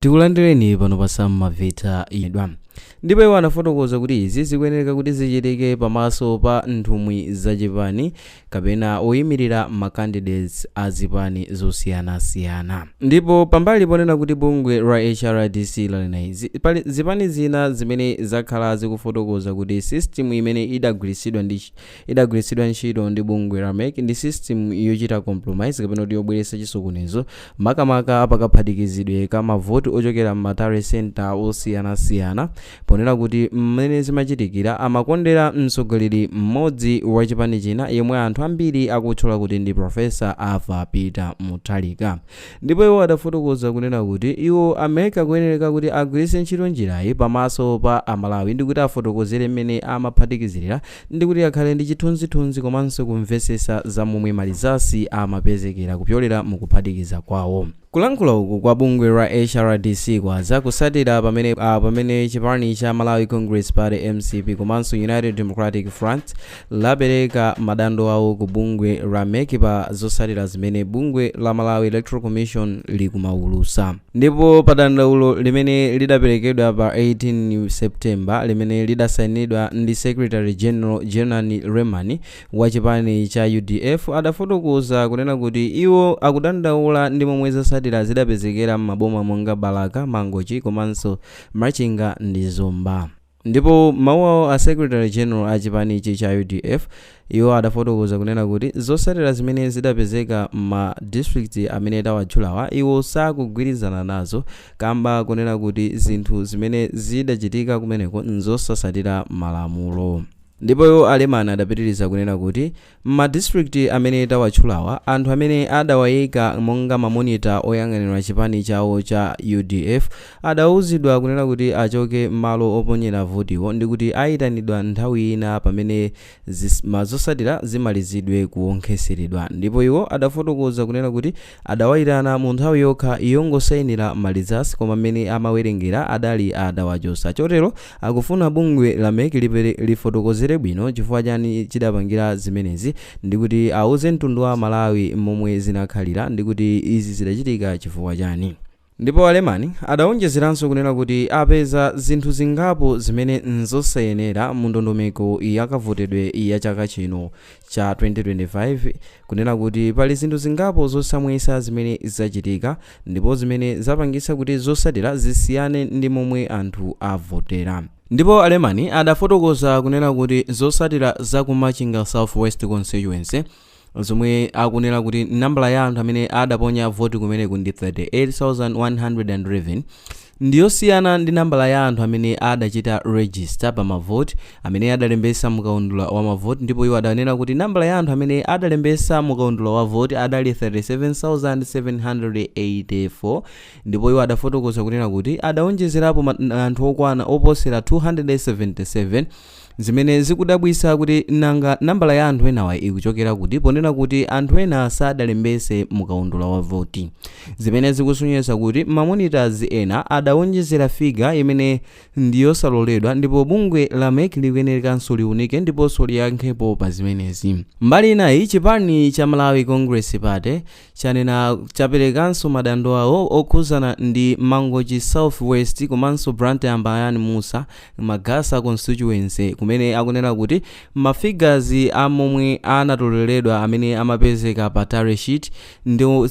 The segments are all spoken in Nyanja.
tikulandireni pano pa Maveta idwa ndipo iwo anafotokoza kuti izi zikuyenera kuti zichitike pamaso pa nthumwi za chipani kapena oyimirira ma candidates a zipani zosiyanasiyana ndipo pambali ponena kuti bungwe la hrdc lanena izi pali zipani zina zimene zakhala zikufotokoza kuti system imene idagwiritsidwa ndi idagwiritsidwa ntchito ndi bungwe la mec ndi system yochita compromise kapena kuti yobweretsa chisokonezo makamaka pakaphatikizidwe ka mavoti ochokera m'ma tally center osiyanasiyana ponena kuti mmene zimachitikira amakondera mtsogoleri mmodzi wa chipani china yemwe anthu ambiri akutchula kuti ndi profesa arthur peter mutharika ndipo iwo adafotokoza kunena kuti iwo a mec akuyenereka kuti agwiritse ntchito njirayi pamaso pa amalawi ndi kuti afotokozere mmene amaphatikizirira ndi kuti akhale ndi chithunzithunzi komanso kumvetsetsa za momwe ma results amapezekera kupyolera mu kuphatikiza kwawo. Kulankhula uku kwa bungwe la HRDC kwadza kusatira pamene a pamene chipani cha Malawi Congress Party, mcp, komanso United Democratic Front lapereka madando awo ku bungwe la mec pa zosatira zimene bungwe la Malawi Electoral Commission likumaulusa. Ndipo pa dandaulo limene lidaperekedwa pa 18 September limene lidasainidwa ndi Secretary General Genarino Lemani wa chipani cha udf adafotokoza kunena kuti iwo akudandaula ndi momwe zotsatira zidapezekera m'maboma monga Balaka, Mangochi komanso Machinga ndi Zomba. Ndipo m'mawu awo a secretary general a chipanichi cha udf iwo adafotokoza kunena kuti zotsatira zimene zidapezeka m'ma district amene tawatchulawa iwo sakugwirizana nazo kamba konena kuti zinthu zimene zidachitika kumeneko nzosatsatira malamulo. Ndipo iwo a Lemani adapitiliza kunena kuti M'ma district amene tawatchulawa, anthu amene adawaika monga ma monitor oyang'anira chipani chawo cha udf adauzidwa kunena kuti achoke m'malo oponyera votiwo ndikuti aitanidwa nthawi ina pamene zosatira zimalizidwe kuwonkheseredwa ndipo iwo adafotokoza kunena kuti Adawaitana mu nthawi yokha yongosainira ma results koma mmene amawerengera adali adawachotsa. Chotero akufuna bungwe la mec lipere lifotokozere bwino chifukwa chani chidapangira zimenezi ndikuti auze mtundu wa amalawi momwe zinakhalira ndikuti izi zidachitika chifukwa chani. Ndipo a Lemani adawonjezeranso kunena kuti apeza zinthu zingapo zimene n'zosayenera mu ndondomeko ya kavotedwe ya chaka chino cha 2025, kunena kuti pali zinthu zingapo zosamvetsa zimene zachitika ndipo zimene zapangitsa kuti zotsatira zisiyane ndi momwe anthu avotera. Ndipo a Lemani adafotokoza kunena kuti zotsatira za ku Machinga South West Constituency, zomwe akunena kuti nambala ya anthu amene adaponya voti kumeneku ndi 38111 ndiyosiyana ndi nambala ya anthu amene adachita register pa mavoti amene adalembesa mukaundula wa mavoti ndipo iwo adanena kuti nambala ya anthu amene adalembesa mukaundula wa voti adali 37784 ndipo iwo adafotokoza kunena kuti adaonjezerapo anthu okwana oposera 277 Zimene zikudabwitsa kuti nanga nambala ya anthu enawa ikuchokera kuti ponena kuti anthu ena sadalembetse mu kaundula wa voti, zimene zikusonyeza kuti ma monitors ena adawonjezera figure imene ndi yosaloledwa ndipo bungwe la mec likuyenerekanso liunike ndiponso liyankhepo pa zimenezi. Mbali inayi, chipani cha Malawi Congress Party chanena chaperekanso madando awo okhuzana ndi Mangochi South West komanso Blantyre Mbayani Mussa Magasa Constituency kumene akunena kuti ma figures a momwe anatoleredwa amene amapezeka pa tally sheet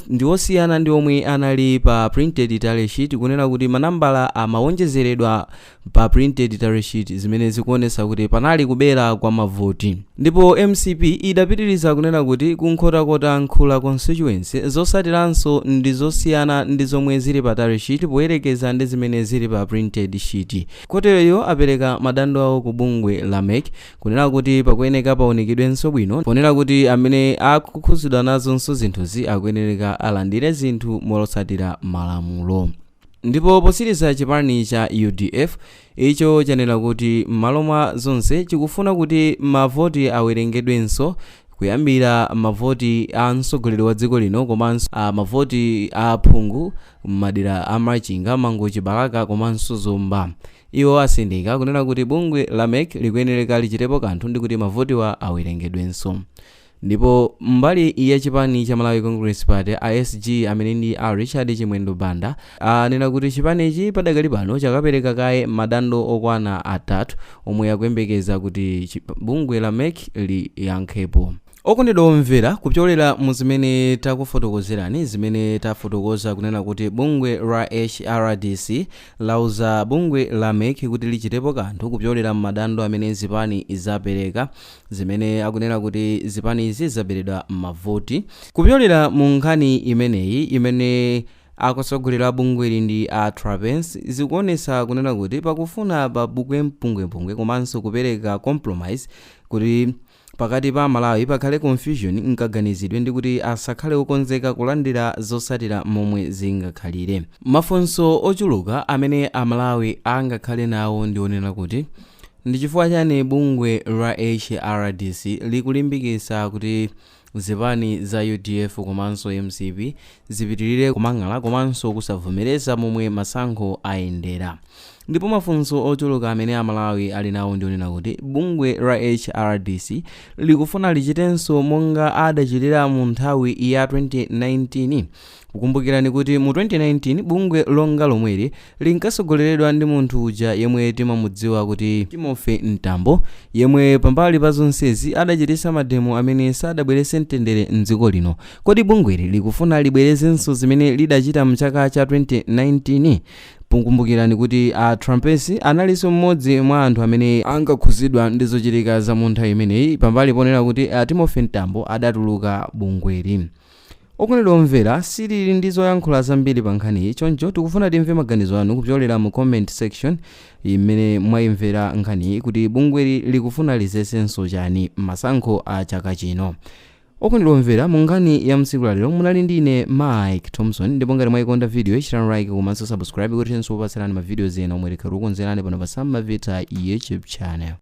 ndi osiyana ndi omwe anali pa printed tally sheet kunena kuti manambala amawonjezeredwa pa printed tally sheet zimene zikuonetsa kuti panali kubera kwa mavoti ndipo mcp idapitiriza kunena kuti ku nkhotakota nkhula constituency zotsatiranso ndi zosiyana ndi zomwe zili pa tally sheet poyerekeza ndi zimene zili pa printed sheet kotero iwo apereka madando awo ku bungwe la mec kunena kuti pakuyeneka paunikidwenso bwino ponena kuti amene akukhudzidwa nazonso zinthuzi akuyenereka alandire zinthu motsatira malamulo Ndipo potsiriza chipani cha udf icho chanena kuti m'malo mwa zonse chikufuna kuti mavoti awerengedwenso kuyambira mavoti a mtsogoleri wa dziko lino komanso mavoti a aphungu m'madera a Machinga, Mangochi, Balaka komanso Zomba. Iwo atsindika kunena kuti bungwe la mec likuyenereka lichitepo kanthu ndikuti mavotiwa awerengedwenso. Ndipo mbali ya chipani cha Malawi Congress Party, a SG, amene ndi a Richard Chimwendo Banda, anena kuti chipanichi padakali pano chakapereka kaye madando okwana atatu omwe akuyembekeza kuti bungwe la mec liyankhepo. Okondedwa omvera, kupyolera mu zimene takufotokozerani, zimene tafotokoza kunena kuti bungwe la HRDC lauza bungwe la mec kuti lichitepo kanthu kupyolera m'madando amene zipani zapereka, zimene akunena kuti zipanizi zaberedwa mavoti. Kupyolera mu nkhani imeneyi imene akutsogolera bungweli ndi a Trapence zikuonesa kunena kuti pakufuna pabuke mpungwepungwe komanso kupereka compromise kuti pakati pa Amalawi pakhale confusion mkaganizidwe ndi kuti asakhale okonzeka kulandira zotsatira momwe zingakhalire. Mafunso ochuluka amene Amalawi angakhale nawo ndi onena kuti. Ndi chifukwa chani bungwe la HRDC likulimbikisa kuti zipani za udf komanso mcp zipitilire kumang'ala komanso kusavomereza momwe masankho ayendera? Ndipo mafunso ochuluka amene a Malawi ali nawo ndi onena kuti bungwe la HRDC likufuna lichitenso monga adachitira mu nthawi ya 2019? Kumbukirani kuti mu 2019 bungwe ngati lomweli linkatsogoleredwa ndi munthu uja yemwe timamudziwa kuti Timothy Mtambo, yemwe pambali pa zonsezi adachititsa mademo amene sadabweretse mtendere m'dziko lino. Kodi bungweli likufuna libwerezenso zimene lidachita m'chaka cha 2019? Kumbukirani kuti a Trapence analinso mmodzi mwa anthu amene ankakhudzidwa ndi zochitika za mu nthawi imeneyi pambali ponena kuti a Timothy Mtambo adatuluka bungweli. Okondedwa omvera, sitili ndi zoyankhula zambiri pa nkhaniyi, choncho tikufuna timve maganizo anu kupyolera mu comment section yimene mwayimvera nkhaniyi kuti bungweli likufuna lidzetsenso chani mmasankho a chaka chino. Okondedwa omvera, mu nkhani ya mtsiku la lero munali ndi ine Mike Thomson ndipo ngati mwayikonda video yi chitani like komanso subscribe kuti tithenso kukupatsirani ma videos ena omwe tikhale tikukonzerani pano pa Sam Mavita YouTube. channel.